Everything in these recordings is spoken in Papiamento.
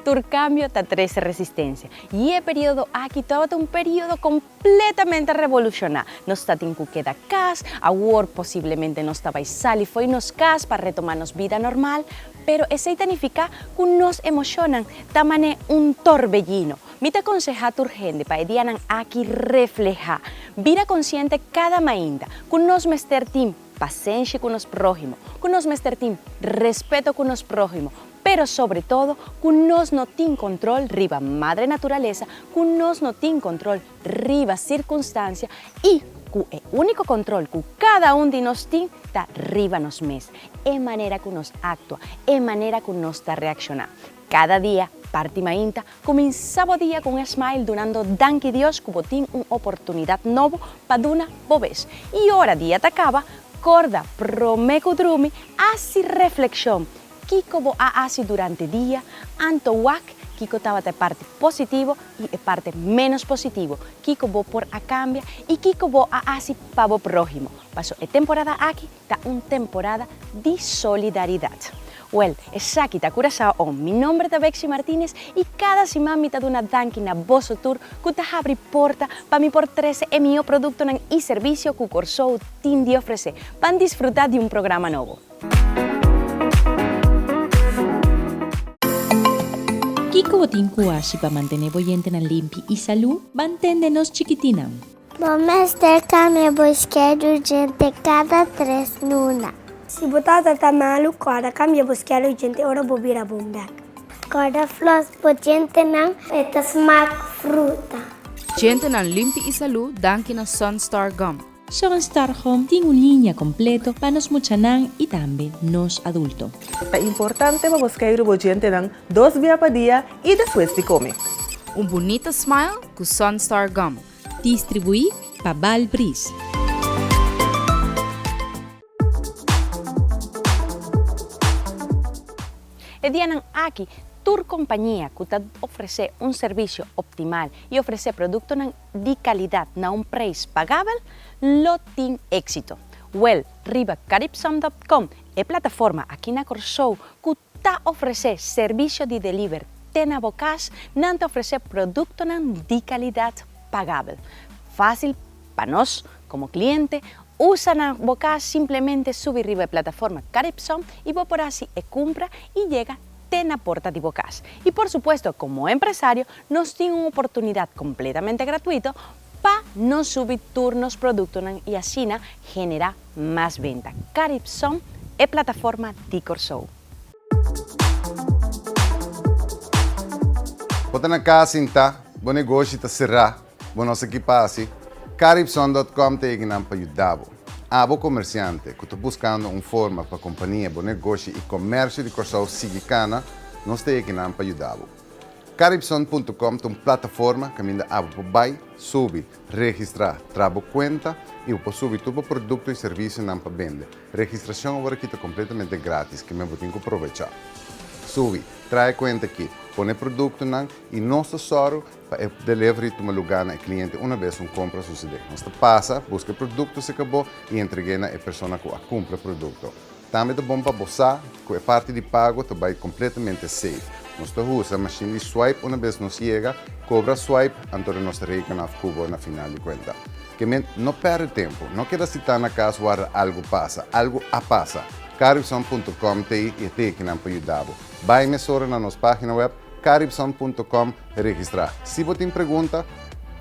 Tur kambio ta trese resistensia, i e periodo aki tabata un periodo kompletamente revolushoná. Nos ta tin ku keda kas, awor posiblemente nos ta bai sali fo'i nos kas pa retomá nos bida normal. Pero esei ta nifiká ku nos emoshonnan ta man'é un torbellino. Mi ta konsehá tur hende pa e dianan aki reflehá bida konsiente kada mainta, ku nos mester tin pasenshi ku nos próhimo, ku nos mester tin respeto ku nos próhimo, pero sobre todo ku nos no tin kontrol riba Madre Naturalesa, ku nos no tin kontrol riba sirkunstansia i ku e úniko kontrol ku kada un di nos tin ta riba nos mes, e manera ku nos aktua, e manera ku nos ta reakshoná. Cada dia, parti mainta, cuminsa bo dia cu un smile dunando danki Dios cu bo tin un oportunidad nobo pa duna bo bes. Y ora dia ta caba, corda, prome cu drumi, haci reflexion, kico bo a haci durante dia, anto wak kico tabata e parti positivo y e parti menos positivo, kico bo por a cambia y kico bo a haci pa bo prohimo. Paso e temporada aki Ta un temporada di solidaridat. Wèl, esaki ta Curaçao on. Mi nòmber ta Bexi Martinez i kada siman mi ta duna danki na boso tur ku ta habri porta pa mi por trese e mihó produktonan i servisio ku Kòrsou tin di ofresé pa disfruta di un programa nobo. Kiko bo tin ku hashi pa mantené bo yentenan limpi i salú? Mantende nos chikitinan! Bo mester kambia bo schedule djente kada tres luna. Si bo tata ta malu, kòrda kambia bo schedule djente ora bo bira bon bèk. Kòrda flòs bo djentenan e ta smak fruta. Djentenan limpi i salú danki na Sunstar Gum. Sunstar Gum tin un liña kompleto pa nos muchanan i tambe nos adulto. Ta importante pa bo schedule bo djentenan dos bia pa dia i despues di kome. Un bunita smile ku Sunstar Gum. Distribuí pa Baal Brys. E dianan aki, tur compañia cu ta ofrece un servicio optimal y ofrece productonan di calidad na un prijs pagabel, lo tin exito. Wel, riba Caribsum dot com, e plataforma aki na Corsou cu Ta ofresé servisio di deliver te na bo kas, nan ta ofresé produktonan di kalidat pagabel, fásil pa nos komo kliente usa na bo kas, simplemente subi riba e plataforma Caripsom i bo por hasi e kumpra i yega te na porta di bo kas. I por supuesto, komo empresario, nos tin un oportunidat kompletamente gratuito Pa nos subi tur nos produktonan i asina generá mas benta. Caripsom, e plataforma di Kòrsou. Bo ta na kas sintá, bo negoshi ta será, bo no sa ki pa hasi? Caripsom.com ta ekinan pa yuda bo. Abo komersiante ku ta buskando un forma pa kompania, bo negoshi i komèrsio di Kòrsou sigui kana, nos ta ekinan pa yuda bo. Caribson punto com ta un plataforma caminda abo bo bay, subi, registra, traha bo cuenta y bo por subi tur bo producto y servicionan pa bende. Registracion aworaki ta completamente gratis, keme bo tin cu provecha. Subi, traha e cuenta aki, pone e productonan y nos ta sorgo pa e delivery tuma lugar na e cliente una bes un compra a sucede. Nos ta pasa, busca e producto seca bo y entregue na e persona cu a cumpra e producto. Tambe ta bon pa bo sa ku e parti di pago ta bai kompletamente safe. Nos ta usa mashin di swipe una bes nos yega, kobra swipe, anto den nos ta rekena af ku bo na final di kuenta. Kement, no pèrdè tempu, no keda sitá na kas warda algu pasa. Algu a pasa! Caribsun punto com ta ei e teki nan pa yuda bo. Bai mesora na nos página wèb caribsun punto com registrá. Si bo tin pregunta.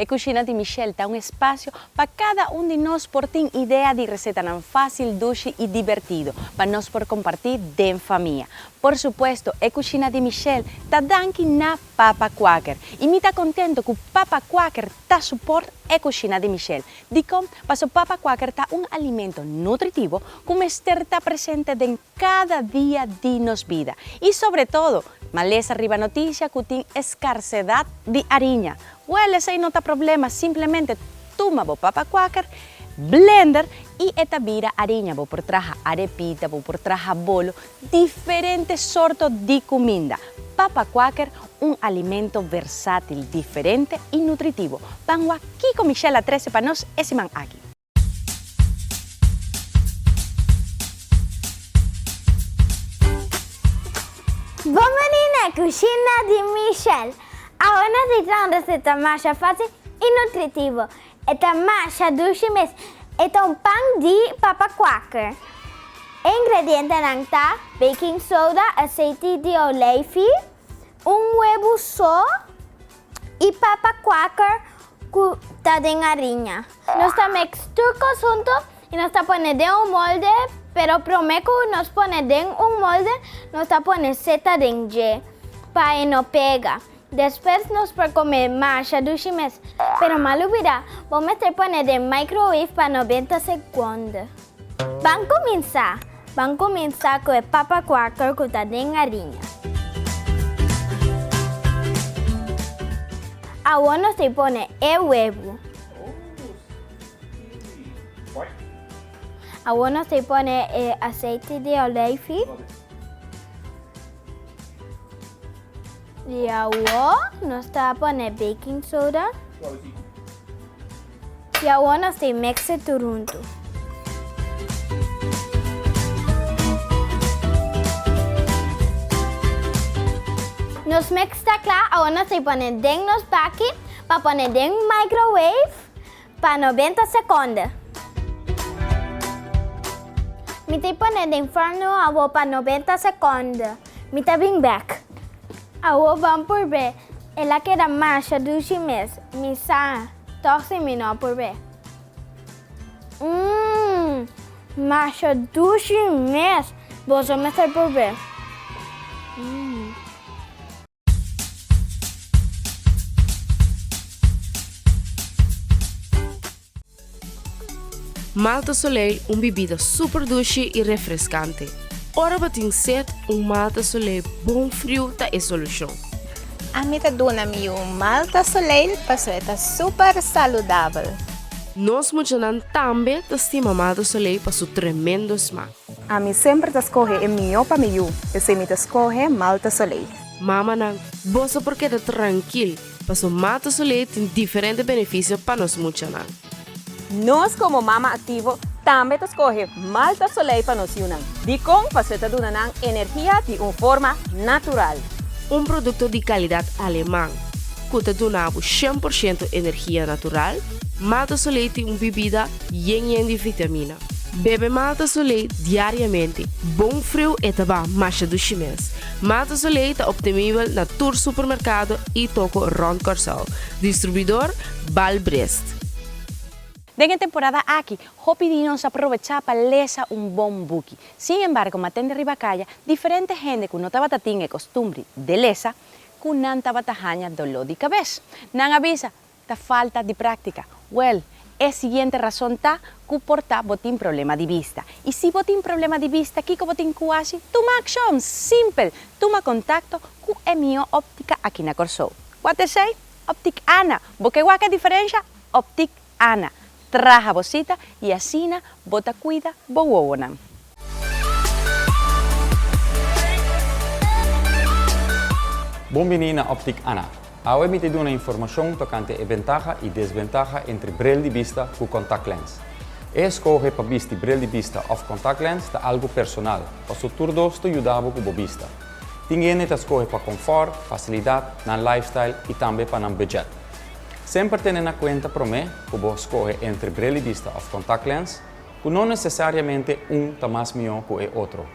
E Kushina di Michelle ta un espasio pa kada un di nos por tin idea di resetanan fásil, dushi i dibertido pa nos por kompartí den famia. Por supuesto, e Kushina di Michelle ta danki na Papa Quaker, i mi ta kontento ku Papa Quaker ta suport e Kushina di Michelle. Dikon? Paso papa kuaker ta un alimento nutritivo ku mester ta presente den kada dia di nos bida i sobretodo ma lesa riba noticia ku tin eskarsedat di ariña. Wèl esei no ta problema, simplemente tuma bo papa kuaker, blender i e ta bira ariña, bo por traha arepita, bo por traha bolo, Diferente sorto di cuminda. Papa Quaker, un alimento versatil, diferente y nutritivo. Pan wak kico Michelle a trece pa nos e siman aki. Bon beni na cushina di Michelle! Awe nos a trae un receta masha facil y nutritivo. E ta masha dushi mes. E ta un pan di papa kwaker. E ingredientenan ta, baking soda, aseiti di olijfi, un webu so i papa kwaker ku ta den ariña. Nos ta mix tur kos huntu i nos ta pone den un molde, pero promé ku nos pone den un molde nos ta pone seta den dje pa e no pega. Despues nos por come masha dushi mes. Pero mal ubida, bo meter pone den microwave pa nobenta seconde. Ban cuminsa! Ban cuminsa cu e papa quaker cu ta den ariña. Awor nos tin pone e webo. Awor nos tin pone e aceite de olijfi. Y awo nos ta pone baking soda. Y awo nos ta mex'e tur huntu. Nos mex ta kla, awo nos ta pone den nos baki pa pone den microwave. Pa noventa sekonde. Mi tin pone den forno awor pa noventa sekonde. Mi ta bring bek. Awor bon por be. El a keda masha dushi mes. Mi sa, tog si mi no por be. Mmm, masha dushi mes. Boso mester por be. Mmm. Malta Soleil, un bibida super dushi i refreskante. Ora bo tin set, un Malta Soleil bon friu ta e solushon. Ami ta duna mi yu un Malta Soleil paso e ta super saludabel. Nos muchanan tambe ta stima Malta Soleil pa su tremendo smak. Ami semper ta scohe e mihó pa mi yu, p'esei mi ta scohe Malta Soleil. Mamanan, boso por keda trankil, paso Malta Soleil tin diferente beneficio pa nos muchanan. Nos como Mama Activo tambe ta scohe Malta Soleil pa nos yunan. Dicon? Paso e ta duna nan energia di un forma natural. Un producto di calidad Aleman cu ta duna abo shen por shento energia natural, Malta Soleil tin un bibida yen yen di vitamina. Bebe Malta Soleil diariamente, bon friu e ta ba masha dushi mes. Malta Soleil ta obtenibel na tur supermercado y toko rond Corsow. Distribuidor, Balbrest. Den e temporada aki, hopi di nos a probecha pa lesa un bon buki. Sin embargo, matende riba caya, diferente hende cu no tabata tin e costumbri de lesa, cu nan tabata haña doló di cabes. Nan a bisa, Ta falta di práktika. Wèl, e siguiente rason ta ku por ta bo tin problema di bista. I si bo tin problema di bista, kiko bo tin ku hasi? Tuma akshon! Simpel! Tuma kontakto ku e mihó óptika aki na Kòrsou. Kua ta esei? Optik Ana! Bo ke wak e diferensha? Optik Ana! Traha bo sita y asina bo ta cuida bo wowonan. Bon bini na Optic Ana. Awe mi ta duna informacion tocante e bentaha y desbentaha entre bril di bista cu contact lens. E escoge pa bisti bril di bista of contact lens ta algo personal, paso tur dos ta yuda bo cu bo bista. Tin hende ta scoge pa confort, facilidad, nan lifestyle y tambe pa nan budget. Semper tene na kuenta promé ku bo skohe entre brelidista òf contact lens, ku no nesesariamente un ta mas mihó ku e otro.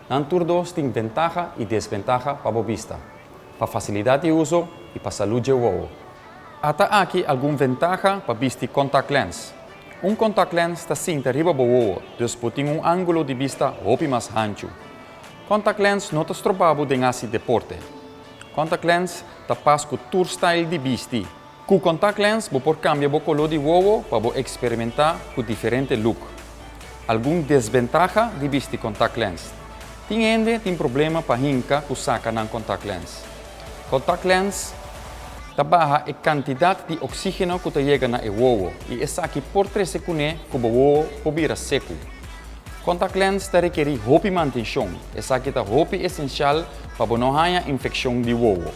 Nan tur dos tin bentaha i desbentaha pa bo bista, pa fasilidat di uso i pa salú dje wowo. A Ta aki algun ventaha pa bisti contact lens. Un contact lens ta sinta riba bo wowo, dus bo tin un ángulo di bista hopi mas hanchu. Contact lens no ta stroba bo den hasi deporte. Contact lens ta pas cu tur style di bisti. Cu contact lens bo por cambia bo color di wowo pa bo experimenta cu diferente look. Algun desventaha di bisti contact lens. Tin hende tin problema pa hinca cu saca nan contact lens. Contact lens ta baha e cantidad di oxigeno cu ta yega na e wowo y esaki por trece cune cu bo wowo por bira secu. Contact lens ta rekerí hopi mantenshon, esaki ta hopi esensial pa bo no haña infekshon di wowo.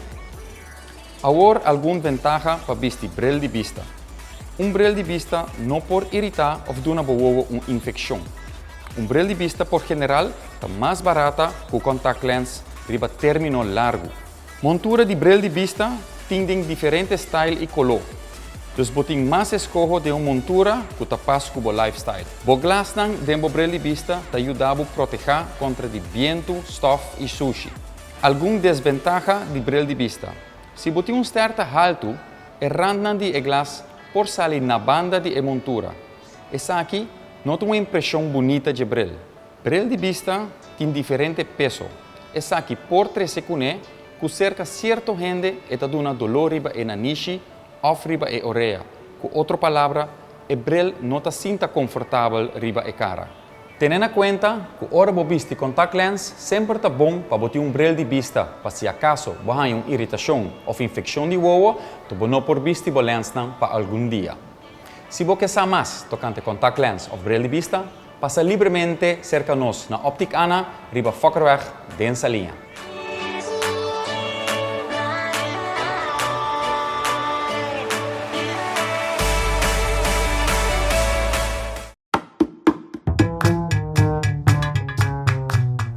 Awor algun ventaha pa bisti bril di bista. Un bril di bista no por iritá of duna bo wowo un infekshon. Un bril di bista por general ta mas barata ku contact lens riba término largu. Montura di bril di bista tin den diferente style y coló. Dus bo tin mas escoho den un montura cu ta pas cu bo lifestyle. Bo glasnan den bo bril di bista ta yuda bo proteha contra di bientu, stof y sushi. Algun desbentaha di bril di bista. Si bo tin un sterta haltu, e randnan di e glas por sali na banda di e montura. Esaki no ta un impresion bunita dje bril. Bril di bista tin diferente peso. Esaki por trece cune cu cerca cierto hende e ta duna dolor riba e nanishi of riba e orea, cu otro palabra e bril no ta sinta confortabel riba e cara. Tene na cuenta cu ora bo bisti contact lens semper ta bon pa bo tin un bril di bista pa si acaso bo hanja un iritacion of infeccion di wowo to bo no por bisti bo lensnan pa algun dia. Si bo ke sa mas tocante contact lens of bril di bista, Pasa libremente serka nos na Optic Anna riba Fokkerweg den Saliña.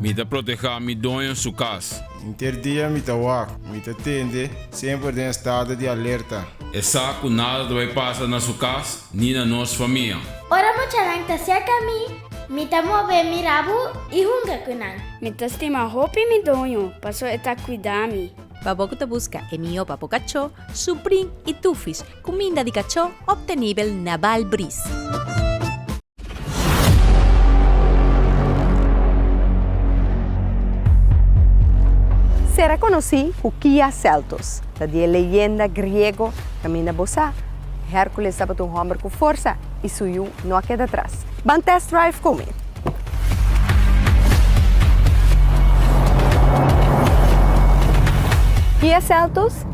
Mi ta proteha mi doño su cas. Inter dia mi ta wak. Mi ta tende semper den estado di alerta. Esa cu nada ta bay pasa na su cas ni na nos famia. Ora muchanan ta serka mi, mi ta move mi rabu i hunga ku nan. Mi ta stima hopi mi doño, paso e ta kuidá mi. Babo ku ta buska e mihó pa bo kachó, su bring i tufis, kuminda di kachó optenibel na Baal Bris. Sera konosí ku Kia Seltos, ta di e leyenda griego kaminda bo sa. Hércules tabata un hòmber ku forsa i su yu no a keda atras. Ban test drive ku mi! Kia Seltos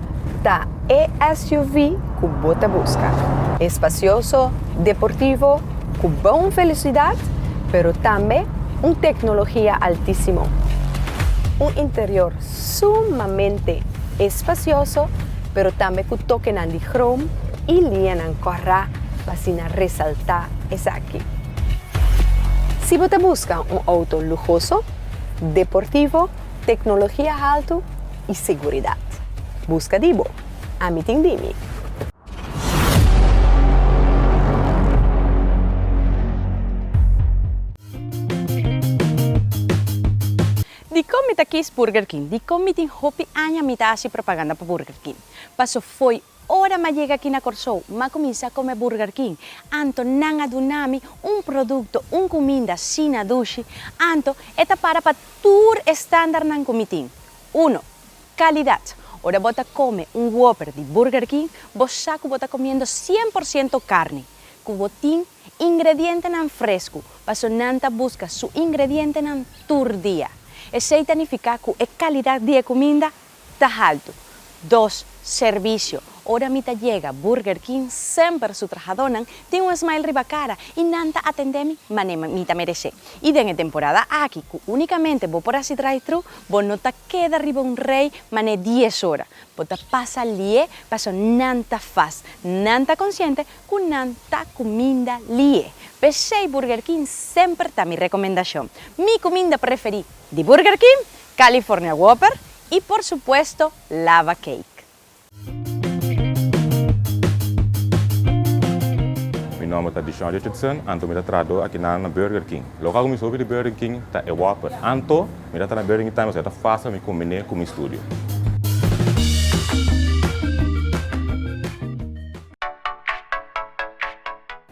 ta e SUV ku bo ta buska. E spasioso, deportivo, ku bon velosidat, pero tambe un teknologia altísimo. Un interior sumamente espasioso pero tambe cu tokenan di chroom y lianan corra pa asina resalta esaki. Si bo ta busca un auto lujoso, deportivo, tecnologia halto y seguridad, busca di bo, ami tin di mi. Dikon mi ta kis Burger King? Dikon mi tin hopi aña mi ta hasi propaganda pa Burger King? Paso fo'i ora m'a yega aki na Kòrsou, m'a kuminsá kome Burger King, anto nan a duna mi un produkto, un kuminda, sina dushi, anto e ta para pa tur e standarnan ku mi tin. Uno, Kalidat. Ora bo ta kome un Whopper di Burger King, bo sa ku bo ta komiendo sien por siento karni, ku bo tin Ingredientenan fresku, paso nan ta buska su ingredientenan tur dia. Esei ta nifiká ku e kalidat di e kuminda ta haltu. Dos, Servisio, Ora mi ta yega, Burger King semper su trahadónan tin un smile riba kara i nan ta atendé mi mané mi ta meresé. I den e temporada aki ku únikamente bo por hasi drive-thru, bo no ta keda riba un rei mané dies ora. Bo ta pasa lié paso nan ta fast. Nan ta konsiente cu nan ta cuminda lie. P'esey Burger King semper ta mi recomendacion. Mi cuminda preferi di Burger King, California Whopper y por supuesto Lava Cake. Mi nomber ta Dishon Richardson, anto mi ta trahador aki nan na Burger King. Local cu mi hopi di Burger King ta e Whopper. Anto mi ta ta na Burger King time, ta fácil pa mi combine cu mi studio.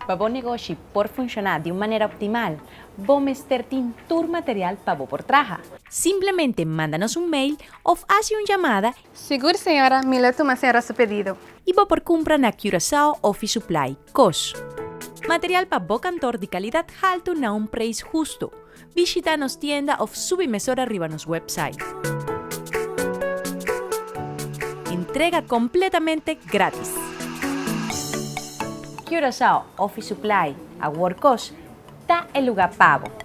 Pa bo negoshi por funshoná di un manera optimal, bo mester tin tur material pa bo por traha. Simplemente manda nos un mail of hasi un llamada y. Sigur señora, mi lo tuma senra su pedido. Y bo por cumpra na Curaçao Office Supply, cos. Material pa bo kantor di calidad halto na un preis husto. Bishita nos tienda of subi mesora riba nos website. Entrega completamente gratis. Curaçao Office Supply, a Workos, ta e lugar pabo.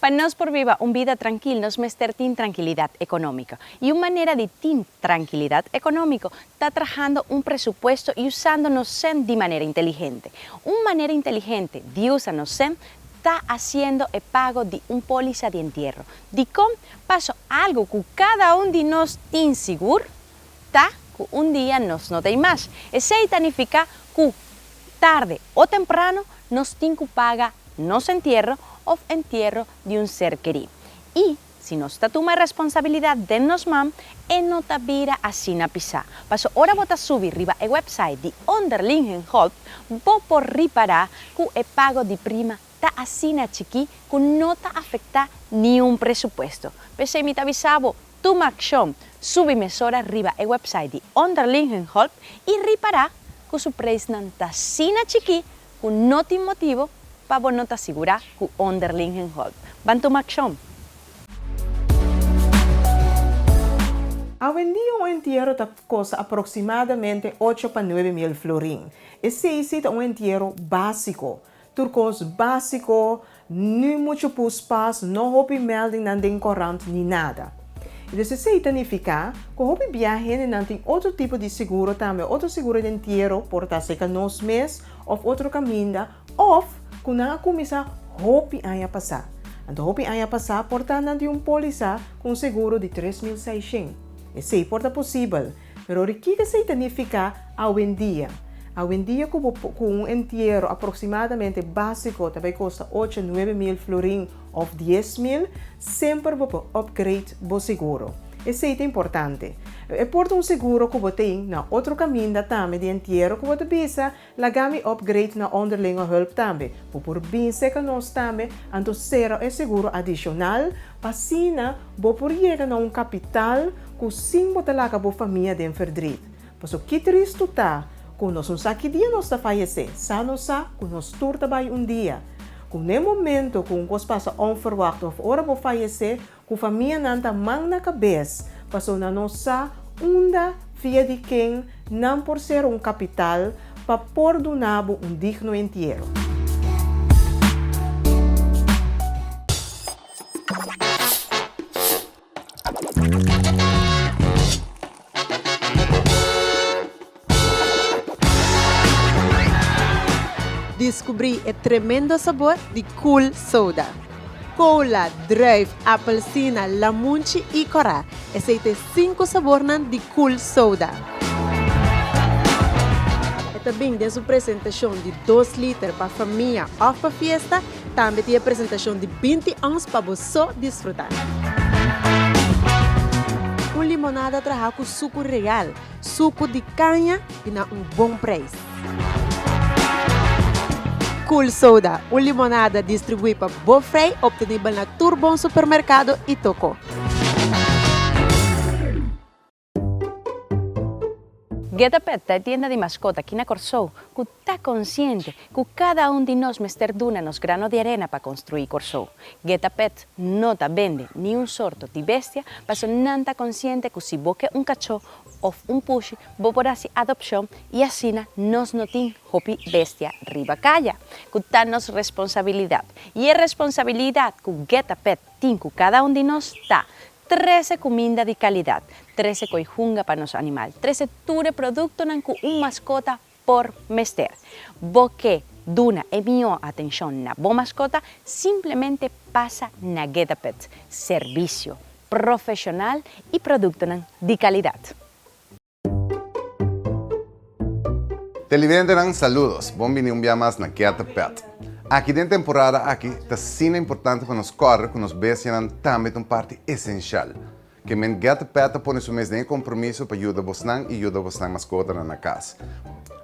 Pa nos por biba un bida trankil nos mester tin trankilidat ekonómiko. I un manera di tin trankilidat ekonómiko ta trahando un presupuesto i usando nos sènt di manera inteligente. Un manera inteligente di usa nos sènt ta hasiendo e pago di un pólisa di entierro. Dikon? Paso algu ku kada un di nos tin sigur Ta cu un dia nos no ta imash. Esey ta nifica cu tarde o temprano nos tin cu paga nos entierro of entierro di un ser keri. Y si nos ta tuma e responsabilidad den nos man, e no ta bira asina pisa. Paso ora bo ta subi riba e website di Onderlingenhulp, bo por ripara cu e pago di prima ta asina chikí ku no ta afektá niun presupuesto. P'esei mi ta bisa bo, tuma akshon, subi mesora riba e wèpsait di Onderlingenhulp i ripará ku su preisnan ta asina chikí ku no tin motibu pa bo no ta sigurá ku Onderlingenhulp. Ban tuma akshon! Awendia un entiero ta kosta aproksimadamente ocho pa nuebe mil florin. Esei si ta un entiero básiko. Tur kos básiko, ni muchu puspas, no hopi mèldingnan den korant ni nada. I dus esei ta nifiká ku hopi bia hendenan tin otro tipo di seguro tambe, otro seguro den entiero, por ta seka nos mes òf otro kaminda, òf ku nan a kuminsá hopi aña pasá. Anto hopi aña pasá por ta nan di un pólisa ku un seguro di tres mil seishent. Esei por ta posibel. Pero di kiko esei ta nifiká awendia? Awendia ku bo ku un entiero aproksimadamente básiko ta bai kosta ocho, nuebe mil florin òf dies mil, semper bo por opgreit bo seguro. Esei ta importante. E por ta un seguro ku bo tin na otro kaminda tambe di entiero ku bo ta bisa Laga mi upgrade na onderlinge hulp tambe, bo por bin seka nos tambe, anto sera e seguro adishonal, asina bo por yega na un kapital ku sin bo ta laga bo famia den ferdrid. Paso ki tristu ta ku nos no sa ki dia nos ta fayesé, sa nos sa ku nos tur ta bai un dia. Kuné momento ku un kos pasa onferwakt òf ora bo fayesé, Ku famianan ta man na kabes, paso nan no sa unda via di ken nan por sera un kapital pa por duna bo un digno entiero. Diskubrí e tremendo sabor di Cool Soda. Kola, druif, apelsina, lamunchi i kòrá, esei ta e sinku sabornan di Cool Soda. E ta bin den su presentashon di dos liter pa famia òf pa fiesta. Tambe tin e presentashon di binti ons pa bo so disfrutá. Un limonada trahá ku suku real, suku di kaña i na un bon preis. Cool Soda, un limonada distribuí pa bo frei, optenibel na tur bon supermerkado i tokó. Ghetto Pet ta e tienda di maskot aki na Kòrsou ku ta konsiente ku kada un di nos mester duna nos grano di arena pa konstruí Kòrsou. Ghetto Pet no ta bende niun sorto di bestia paso nan ta konsiente ku si bo ke un kachó òf un pushi bo por hasi adopshon i asina nos no tin hopi bestia riba kaya ku ta nos responsabilidat. I e responsabilidat ku Ghetto Pet tin ku kada un di nos ta Trece cuminda di calidad. Trece coi hunga pa nos animal. Trece tur e productonan cu un mascota por mester. Bo ke duna e mihó atencion na bo mascota? Simplemente pasa na Getapets. Servicio. Profesional y productonan di calidad. Televidentenan saludos, bon bini un bia mas na Keater Pelt. Aki den temporada aki ta asina importante pa nos kòrda ku nos bestianan tambe ta un parti esensial. Keamen Geater Pelt ta pone su mes den e kompromiso pa yuda bosnan i yuda bosnan maskotanan na kas.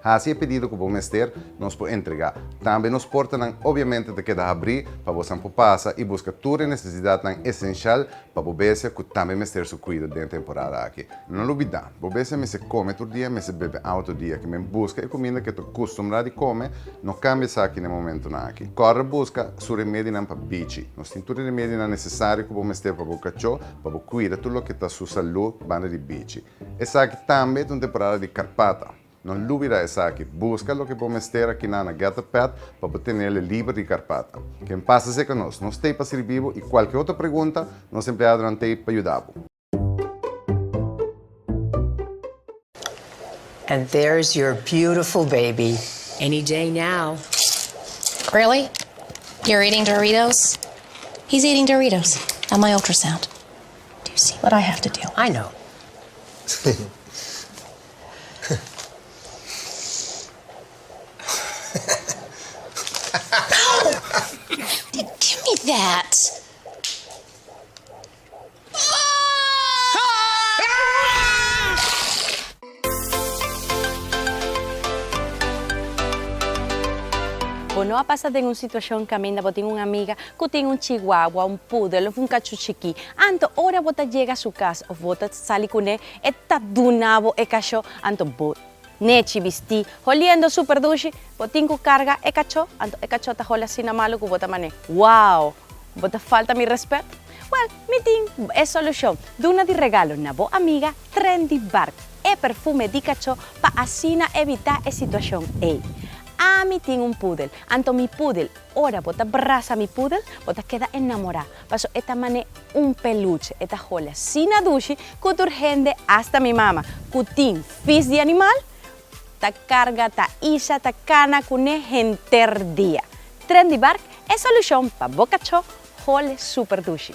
Hasi e pedido ku bo mester, nos por entregá. Tambe nos portanan obiamente ta keda habrí pa bosnan por pasa i buska tur e nesesidatnan esensial Pa bo bestia cu tambe mester su cuido den e temporada aki. No lo bida, bo bestia mester come tur dia, mester bebe awa tur dia. Kimen busca e cuminda cu e ta custumbrá di come, no cambia esaki n'e momentunan aki. Corre busca su remedinan pa bichi. Nos tin tur e remedinan necesario cu bo mester pa bo cachó, pa bo cuida tur loke ta su salú banda di bichi. Esaki tambe ta un temporada di carpata. No lubida esaki. Buska loke bo mester akiná na Getter Pet pa bo tene el liber di karpata. Ken pasa seca nos? Nos t'ey pa sirbi bo y cualke otro pregunta, nos empleadonan t'ey pa yuda bo. And there's your beautiful baby. Any day now. Really? You're eating Doritos? He's eating Doritos at my ultrasound. Do you see what I have to deal with? I know. Bo no a pasa den un situacion caminda bo tin un amiga cu tin un chihuahua, un poodle of un cachu chiqui. Anto ora bo ta yega su cas of bo ta sali cu ne E ta duna bo e kachó, anto bo nechi bistí. Holiendo súper dushi, bo tin ku karga e kachó, anto e kachó ta holi asina malu ku bo ta man'é. Wow! Bo ta falta mi rèspèt? Wèl, mi tin e solushon. Duna di regalo na bo amiga Trendy Bark e perfume di kachó pa asina evitá e situashon ei. Ami tin un púdel, anto mi púdel, ora bo ta brasa mi púdel, bo ta keda enamorá. paso e ta mane un peluche e ta holi asina dushi cu tur hende hasta mi mama cu tin fis di animal ta carga ta isha ta cana cu ne henter dia. Trendy Bark e solucion pa bo cacho holi super dushi.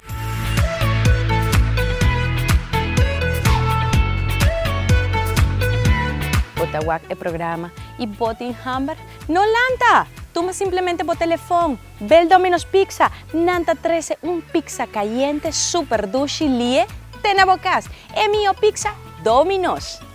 Bo ta wak e programa y bo tin hamber? No lanta! Tuma simplemente bo telefon, bel Domino's Pizza, nan ta trece un pizza cayente super dushi lie te na bo cas. E miho pizza Domino's!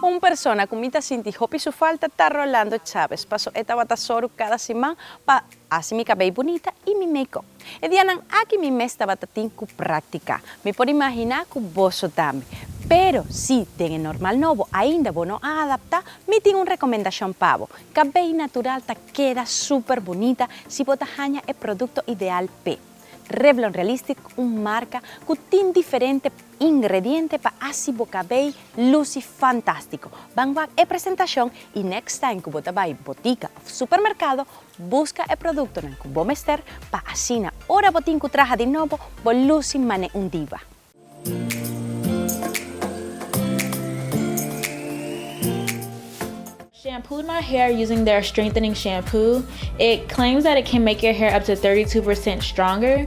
Un persona ku mi ta sinti hopi su falta ta Rolando Chavez, paso e tabata soru kada siman pa hasi mi kabei bunita i mi make-up. E dianan aki mi mes tabata tin ku práktika. Mi por imaginá ku boso tambe. Pero, si den e normal nobo ainda bo no a adaptá, mi tin un rekomendashon pa bo. Kabei natural ta keda súper bunita si bo ta haña e produkto ideal p'e. Revlon Realistic un marka ku tin diferente ingrediente pa hasi bo kabei lusi fantástiko. Ban wak e presentashon i next time ku bo ta bai botika òf supermerkado, Buska e produktonan ku bo mester pa asina ora bo tin ku traha di nobo bo lusi man'e un diva. Shampooed my hair using their strengthening shampoo, it claims that it can make your hair up to thirty two percent stronger.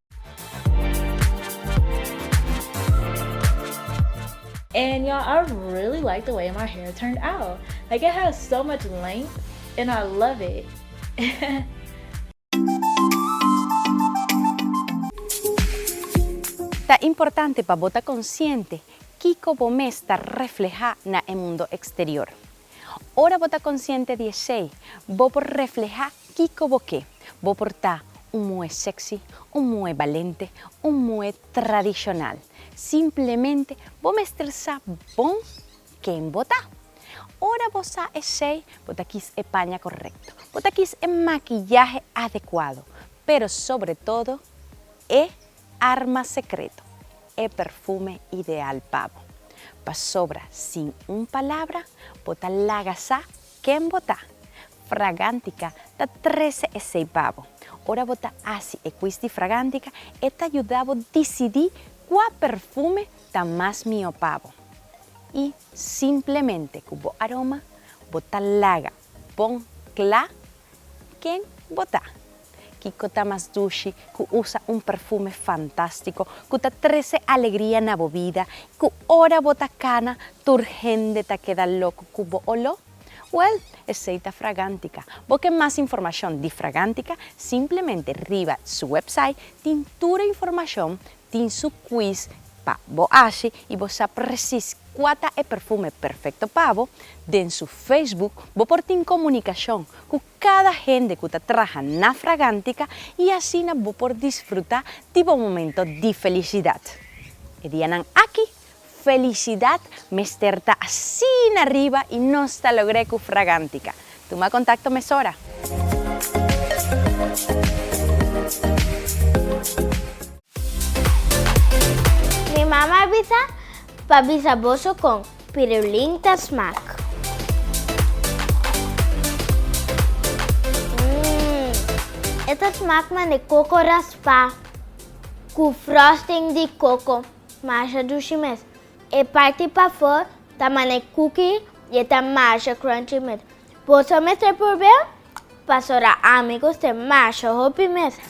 And y'all I really like the way my hair turned out like it has so much length and I love it. Ta importante pa bo ta konsiente kiko bo mes ta reflehá na e mundo eksterior. Ora bo ta konsiente di esei, bo por reflehá Kiko bo ke? Bo por ta un muhe sexy, un muhe balente, un muhe tradishonal. Simplemente bo mester sa bon ken bo ta. Ora bo sa esei, bo ta kis e paña korekto, bo ta kis e makiyahe adekuado, pero sobre todo e arma sekreto, e perfume ideal pa bo. Pasobra sin un palabra bo ta laga sa Ken bo ta? Fragantica ta trece esey pa bo. Ora bo ta haci e quiz di Fragantica, e ta yuda bo dicidi cua perfume ta mas mihó pa bo. Y simplemente cu bo aroma, bo ta laga bon cla ken bo ta. Kiko ta mas dushi ku usa un perfume fantástiko ku ta trese alegria na bo bida i ku ora bo ta kana tur hende ta keda loko ku bo oló? Wèl, esei ta Fragántica. Bo ke mas informashon di Fragántica? Simplemente riba su wèpsait tin tur e informashon, tin su kwis pa bo ashi i bo sa presis kua ta e perfume perfekto pa bo. Den su Facebook bo por tin komunikashon ku cada hende cu ta traha na Fragantica y asina bo por disfruta di bo momento di felicidad. E dianan aki, felicidad mester ta asina riba y nos ta logr'e cu Fragantica. Tuma contacto mesora. Mi mama a bisa pa bisa boso con. Pirulin ta smak. Mmm. E ta smak mane koko raspá ku frosting di koko. Masha dushi mes. E parti pafó ta mane kuki i e ta masha crunchy mes. Boso mester purbe'l? Pasora ami cu ste masha hopi mesa.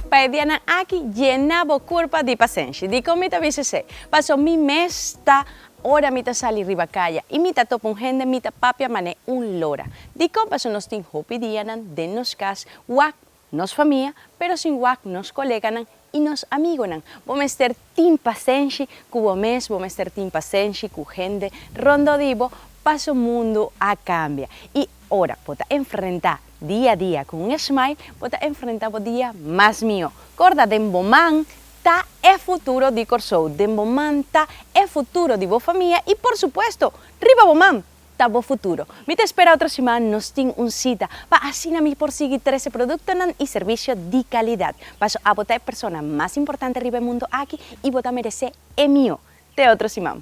Pa e dianan aki yena bo curpa di pasenshi. Dicon mi ta bisa esey? Paso mi mes ta ora mi ta sali riba caya y mi ta topa un hende mi ta papia mane un lora. Dicon? Paso nos tin hopi dianan den nos cas wak nos famia, pero sin wak nos koleganan i nos amigonan. Bo mester tin pasenshi ku bo mes, bo mester tin pasenshi ku hende rondó di bo, paso mundu a kambia. I ora bo ta enfrentá dia dia ku un esmail, bo ta enfrentá bo dia mas mihó. Korda, den bo man ta e futuro di Kòrsou, den bo man ta e futuro di bo famia i por supuesto, riba bo man ta bo futuro. Mi ta espera otro siman nos tin un cita pa asina mi por sigui trece productonan y servicio di calidad. Paso abo ta e persona mas importante riba e mundo aki y bo ta merece e mihó. Te otro siman.